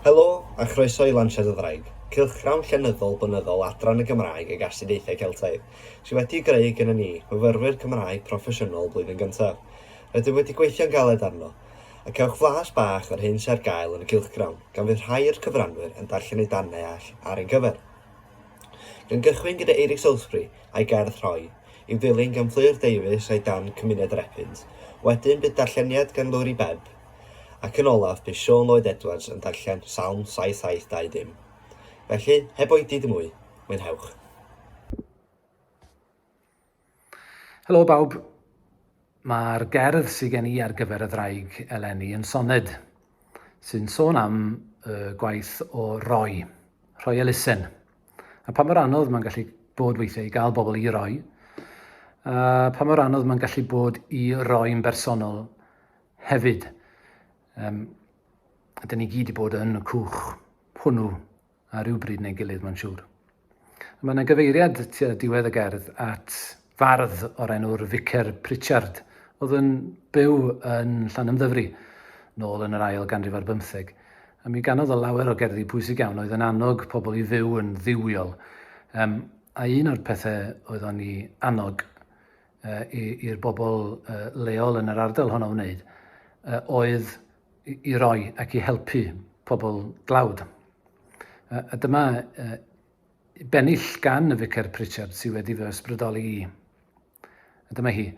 Helo, a chroeso i Lansiad y Ddraig, cylchgrawn llenyddol blynyddol Adran y Gymraeg ag Astudiaethau Celtaidd, sydd wedi'i greu gennym ni, myfyrwyr Cymraeg proffesiynol blwyddyn gyntaf. Rydym wedi gweithio'n galed arno, a cewch flas bach o'r hyn sydd ar gael yn y cylchgrawn, gan fydd rhai o'r cyfranwyr yn darllen eu darnau all ar ein cyfer. Gan gychwyn gyda Eirík Salisbury a'i gerdd Rhoi, i'w ddilyn gan Fflur Davies a'i darn Cymuned yr Epynt. Wedyn bydd darlleniad gan Lowri Bebb, Ac yn olaf, bu Siôn Lloyd Edwards yn darllen Salm 7720. Felly, heb oedi dim mwy, mwynhewch! Helo bawb. Mae'r gerdd sydd gen i ar gyfer y ddraig eleni yn soned sy'n sôn am y gwaith o roi, rhoi elusen, a pa mor anodd mae'n gallu bod weithiau i gael bobl i roi, a pa mor anodd mae'n gallu bod i roi'n bersonol Hefyd, um, da ni gyd i bod yn y cwch hwnnw ar rywbryd neu gilydd, mae'n siŵr. Mae yna gyfeiriad tua diwedd y gerdd at fardd o'r enw'r Vicar Pritchard, oedd yn byw yn Llanymddyfri, nôl yn yr ail ganrif ar bymtheg. A mi ganodd o lawer o gerddi pwysig iawn oedd yn annog pobl i fyw yn ddiwiol. Um, a un o'r pethau oedd o'n i annog i'r bobl leol yn yr ardal honno wneud oedd i roi ac i helpu pobl dlawd. A dyma bennill gan y Ficer Pritchard sydd wedi fy ysbrydoli i. A dyma hi,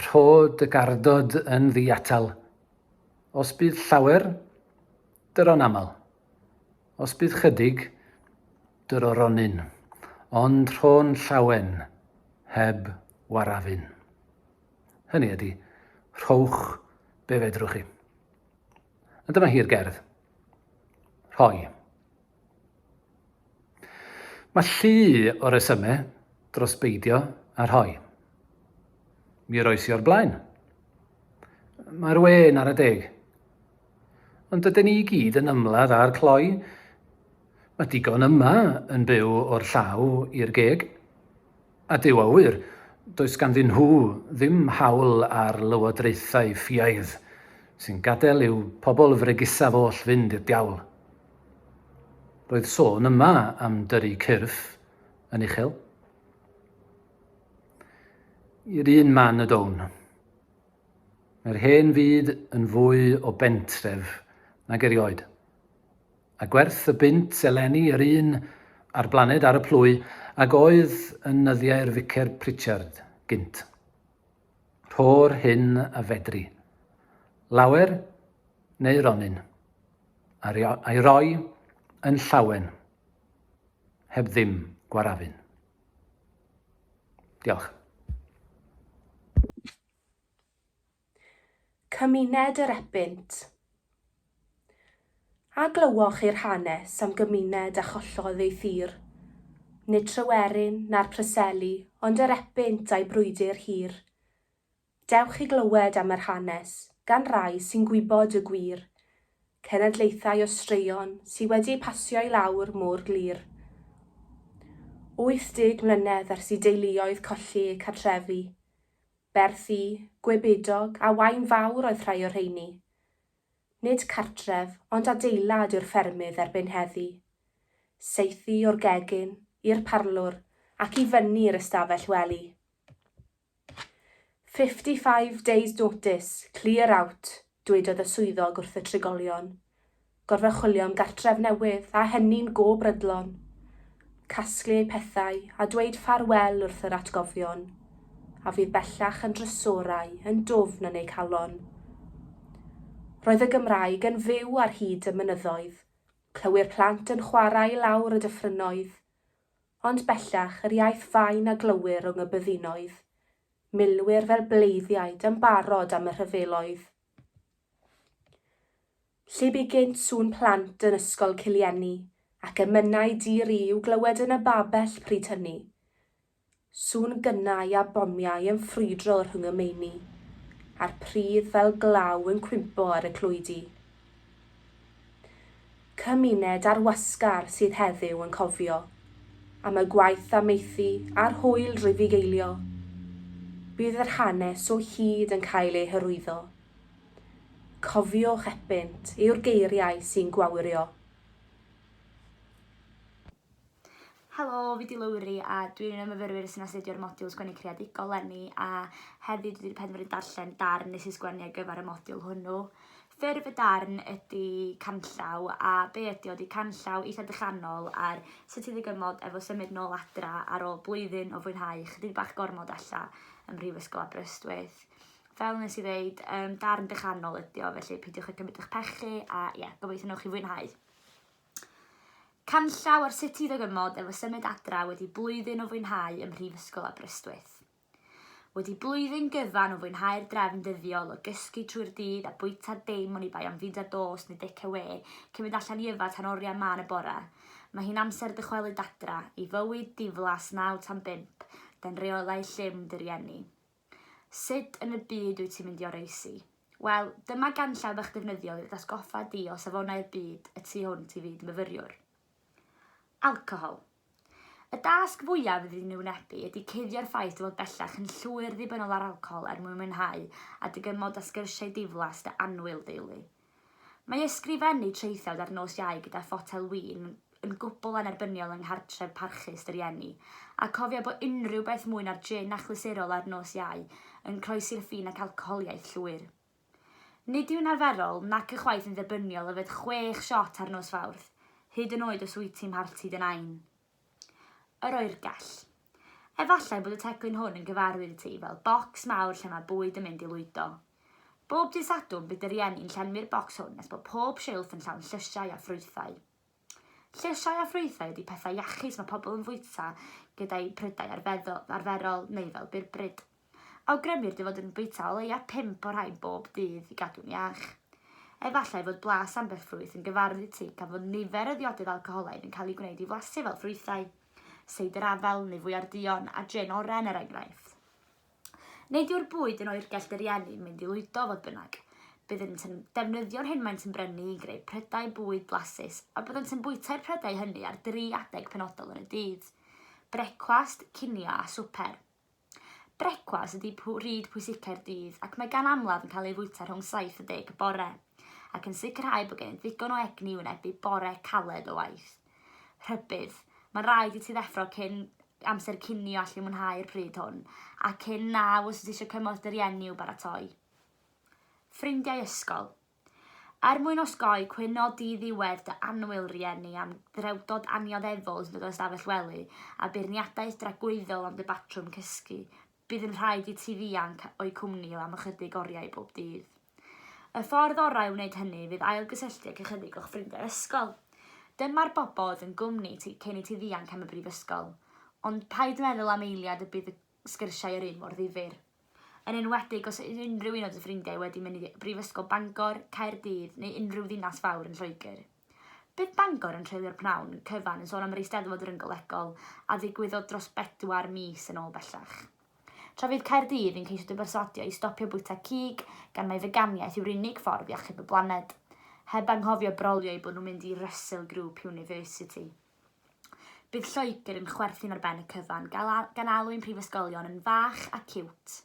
rho dy gardod yn ddiatal, os bydd llawer, dyron aml. Os bydd chydig, dyr o ronyn, ond rho'n llawen, heb warafyn. Hynny ydy, rhowch be fedrwch chi. A dyma hi'r gerdd. Rhoi. Mae llu o resymau dros beidio a rhoi. Mi roes i o'r blaen. Mae'r wên ar y deg. Ond dydyn ni i gyd yn ymladd â'r cloi. Mae digon yma yn byw o'r llaw i'r geg. A Duw a ŵyr, does ganddyn nhw ddim hawl ar lywodraethau ffiaidd sy'n gadael i'w pobl fregusaf oll fynd i'r diawl. Roedd sôn yma am dyrru cyrff yn uchel. I'r un man y down. Mae'r hen fyd yn fwy o bentref nag erioed, a gwerth y bunt eleni yr un a'r blaned ar y plwy ag oedd yn nyddiau'r Ficer Pritchard gynt. Rho'r hyn a fedri. Lawer neu ronyn. A'i roi yn llawen. Heb ddim gwarafun. Diolch. Cymuned yr Epynt. A glywoch chi'r hanes am gymuned a chollodd ei thir? Nid Tryweryn, na'r Preseli, ond yr Epynt a'i brwydr hir. Dewch i glywed am yr hanes, gan rai sy'n gwybod y gwir, cenedlaethau o straeon sy' wedi eu pasio i lawr mor glir. 80 mlynedd ers i deuluoedd colli eu cartrefi, Berthi, Gwebidog a Waun Fawr oedd rhai o'r rheini. Nid cartref, ond adeilad yw'r ffermydd erbyn heddi. Saethu o'r gegin, i'r parlwr, ac i fyny i'r ystafell wely. Fifty five days notice, clear out, Dwedodd y swyddog wrth y trigolion, Gorfod chwilio am gartref newydd, a hynny'n go brydlon. Casglu eu pethau a dweud ffarwel wrth yr atgofion, a fydd bellach yn drysorau yn dwfn yn eu calon. Roedd y Gymraeg yn fyw ar hyd y mynyddoedd, clywir plant yn chwarae i lawr y dyffrynnoedd, ond bellach yr iaith fain a glywir rwng y byddinoedd, Milwyr fel bleiddiaid yn barod am y rhyfeloedd. Lle bu gynt sŵn plant yn Ysgol Cilieni, ac emynau di-ri i'w glywed yn y babell pryd hynny. Sŵn gynnau a bomiau yn ffrwydro rhwng y meini, a'r pridd fel glaw yn cwympo ar y clwydi. Cymuned ar wasgar sydd heddiw yn cofio am y gwaith amaethu a'r hwyl rufeigeilio. Bydd yr hanes o hyd yn cael ei hyrwyddo. Cofiwch epynt yw'r geiriau sy'n gwawrio. Helo, fi di Lowri a dwi'n un o myfyrwyr sy'n astudio'r modiwl sgwennu creadigol lenni a heddi dwi wedi penderfynu darllen darn nes i sgwennu ar gyfer y modiwl hwnnw. Ffurf y darn ydy canllaw a be ydy o ydy canllaw eitha dychanol ar sut i ddigymod efo symud nôl adra ar ôl blwyddyn o fwynhau chydig bach gormod alla ym Mhrifysgol Aberystwyth. Fel nes i ddeud, um, darn dychanol ydy o, felly peidiwch â cymryd eich pechu a ie, yeah, gobeithio newch chi fwynhau. Canllaw ar sut i ddygymod efo symud adra wedi blwyddyn o fwynhau ym Mhrifysgol Aberystwyth. Wedi blwyddyn gyfan o fwynhau'r drefn dyddiol o gysgu trwy'r dydd a bwyta dim oni bai am fida dost neu dic awe cyn mynd allan i yfad tan oriau mân y bore, mae hi'n amser dychwelyd adra i fywyd diflas naw tan bump dan reolau llym dy rieni. Sut yn y byd wyt ti'n mynd i oroesi? Wel, dyma ganllaw bach defnyddiol i atgoffa di o safonau'r byd y tu hwnt i fyd myfyriwr. Alcohol. Y dasg fwyaf fydd yn ei wynebu ydy cuddio'r ffaith dy fod bellach yn llwyr ddibynnol ar alcohol er mwyn mwynhau a dy gymod a sgyrsiau diflas dy annwyl deulu. Mae ysgrifennu traethawd ar nos Iau gyda photel win yn gwbl annerbyniol yng nghartref parchus dy rieni, a cofia bod unrhyw beth mwy na'r jin achlysurol ar nos Iau yn croesi'r ffin ac alcoholiaeth llwyr. Nid yw'n arferol, nac ychwaith yn dderbyniol yfed chwech siot ar nos Fawrth, hyd yn oed os wyt ti'n mharti dy nain. Yr oergell. Efallai bod y teclyn hwn yn gyfarwydd i ti fel bocs mawr lle mae bwyd yn mynd i lwydo. Bob dydd Sadwrn bydd dy rieni'n llenwi'r bocs hwn nes bod pob silff yn llawn llysiau a ffrwythau. Llysiau a ffrwythau ydy pethau iachus mae pobl yn fwyta gyda'u prydau arferol neu fel byrbryd. Awgrymir dy fod yn bwyta o leiaf pump o'r rhain bob dydd i gadw'n iach. Efallai fod blas ambell ffrwyth yn gyfarwydd i ti gan fod nifer y ddiodydd alcoholaidd yn cael eu gwneud i flasu fel ffrwythau, seidr afel neu fwya'r duon, a jin oren er enghraifft. Nid yw'r bwyd yn oergell dy rieni, mynd i lwydo, fodd bynnag. Byddent yn defnyddio'r hyn maent yn brynu i greu prydau bwyd blasus a byddent yn bwytau'r prydau hynny ar dri adeg penodol yn y dydd, brecwast, cinio a swper. Brecwast ydy pryd pwysicau'r dydd ac mae gan amlaf yn cael ei fwyta rhwng 7 a 10 y bore, ac yn sicrhau bod gennyt ddigon o egni i wynebu bore caled o waith. Rhybudd. Mae'n rhaid i ti ddeffro cyn amser cinio allu mwynhau'r pryd hwn, a cyn na os wyt ti eisiau cymorth dy rieni i'w baratoi. Ffrindiau ysgol. Er mwyn osgoi cwyno di-ddiwedd dy annwyl rieni am ddrewdod annioddefol hyd yn oed ystafell wely a beirniadaeth dragwyddol am dy batrwm cysgu, bydd yn rhaid i ti ddianc o'u cwmni am ychydig oriau bob dydd. Y ffordd orau o wneud hynny fydd ailgysylltu ag ychydig o'ch ffrindiau ysgol. Dyma'r bobl oedd yn gwmni ti cyn i ti ddianc am y brifysgol. Ond paid meddwl am eiliad y bydd y sgyrsiau yr un mor ddifyr. Yn enwedig os yw unrhyw un o dy ffrindiau wedi mynd i Brifysgol Bangor, Caerdydd neu unrhyw ddinas fawr yn Lloegr. Bydd Bangor yn treulio'r pnawn cyfan yn sôn am yr Eisteddfod Ryngolegol a ddigwyddodd dros bedwar mis yn ôl bellach. Tra fydd Caerdydd yn ceisio dy berswadio i stopio bwyta cig gan mai feganiaeth yw'r unig ffordd i achub y blaned, heb anghofio brolio eu bod nhw'n mynd i Russell Group University. Bydd Lloegr yn chwerthin ar ben y cyfan, gan alw'n prifysgolion yn fach a ciwt.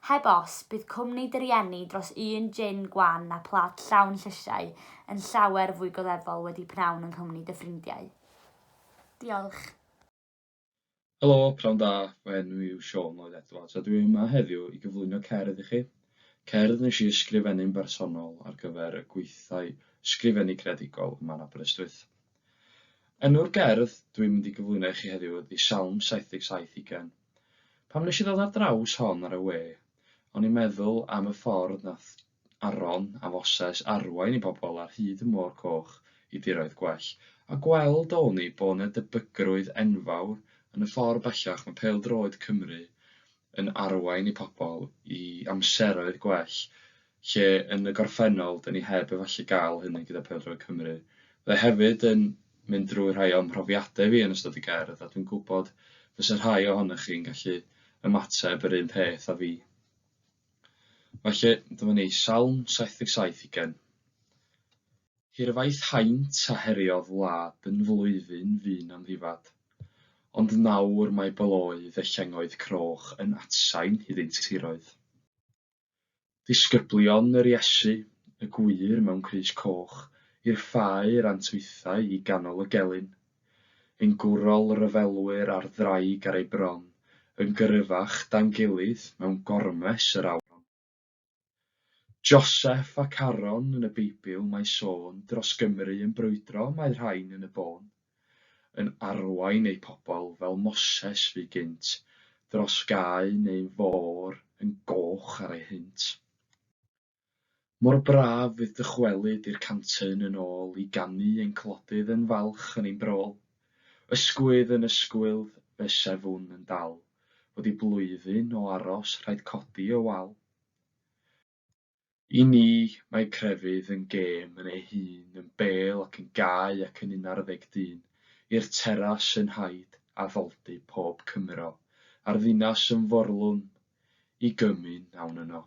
Heb os, bydd cwmni dy rieni dros un jin gwan a plat llawn llysiau yn llawer fwy goddefol wedi pnawn yng nghwmni dy ffrindiau. Diolch. Helo, pnawn da, fy enw i yw Siôn Lloyd Edwards a dwi yma heddiw i gyflwyno cerdd i chi. Cerdd nes i ysgrifennu'n bersonol ar gyfer y gweithdai ysgrifennu creadigol yma yn Aberystwyth. Enw'r gerdd dwi'n mynd i gyflwyno i chi heddiw ydy Salm 77 Ugain. Pam nes i ddod ar draws hon ar y we, o'n i'n meddwl am y ffordd nath Aron a Moses arwain i bobl ar hyd y Môr Coch i diroedd gwell, a gweld a wn i bod 'na debygrwydd enfawr yn y ffordd bellach mae pêl-droed Cymru yn arwain i pobl i amseroedd gwell lle yn y gorffennol 'dyn ni heb efallai gael hynny gyda pêl-droed Cymru. Fe hefyd yn mynd drwy rhai o'm mhrofiadau fi yn ystod y gerdd a dwi'n gwybod fysa rhai ohonoch chi'n gallu ymateb yr un peth a fi. Felly, dyma ni, Salm 77 ugain. Hirfaith haint a heriodd wlad yn flwyddyn fu'n amddifad, ond nawr mae baloedd a llengoedd croch yn atsain iddynt tiroedd. Disgyblion yr Iesu, y gwŷr mewn crys coch, i'r ffair antwythau i ganol y gelyn. yn gwrol ryfelwyr ar ddraig ar ei bron, yn gryfach dan gilydd mewn gormes yr awron. Joseff ac Aron yn y Beibl mae sôn dros Gymru yn brwydro mae rhain yn y bôn, yn arwain eu pobl fel Moses fu gynt, dros gae neu'n fôr yn goch ar ei hynt. Mor braf fydd dychwelyd i'r cantyn yn ôl i ganu ein clodydd yn falch yn ein brôl. Ysgwydd yn ysgwydd fe sefwn yn dal, fod i blwyddyn o aros rhaid codi y wal. I ni mae crefydd yn gêm yn ei hun, yn bêl ac yn gau ac yn unarddeg dyn, i'r teras yn haid addoldy pob Cymro, a'r ddinas yn forlwm i gymyn awn yno.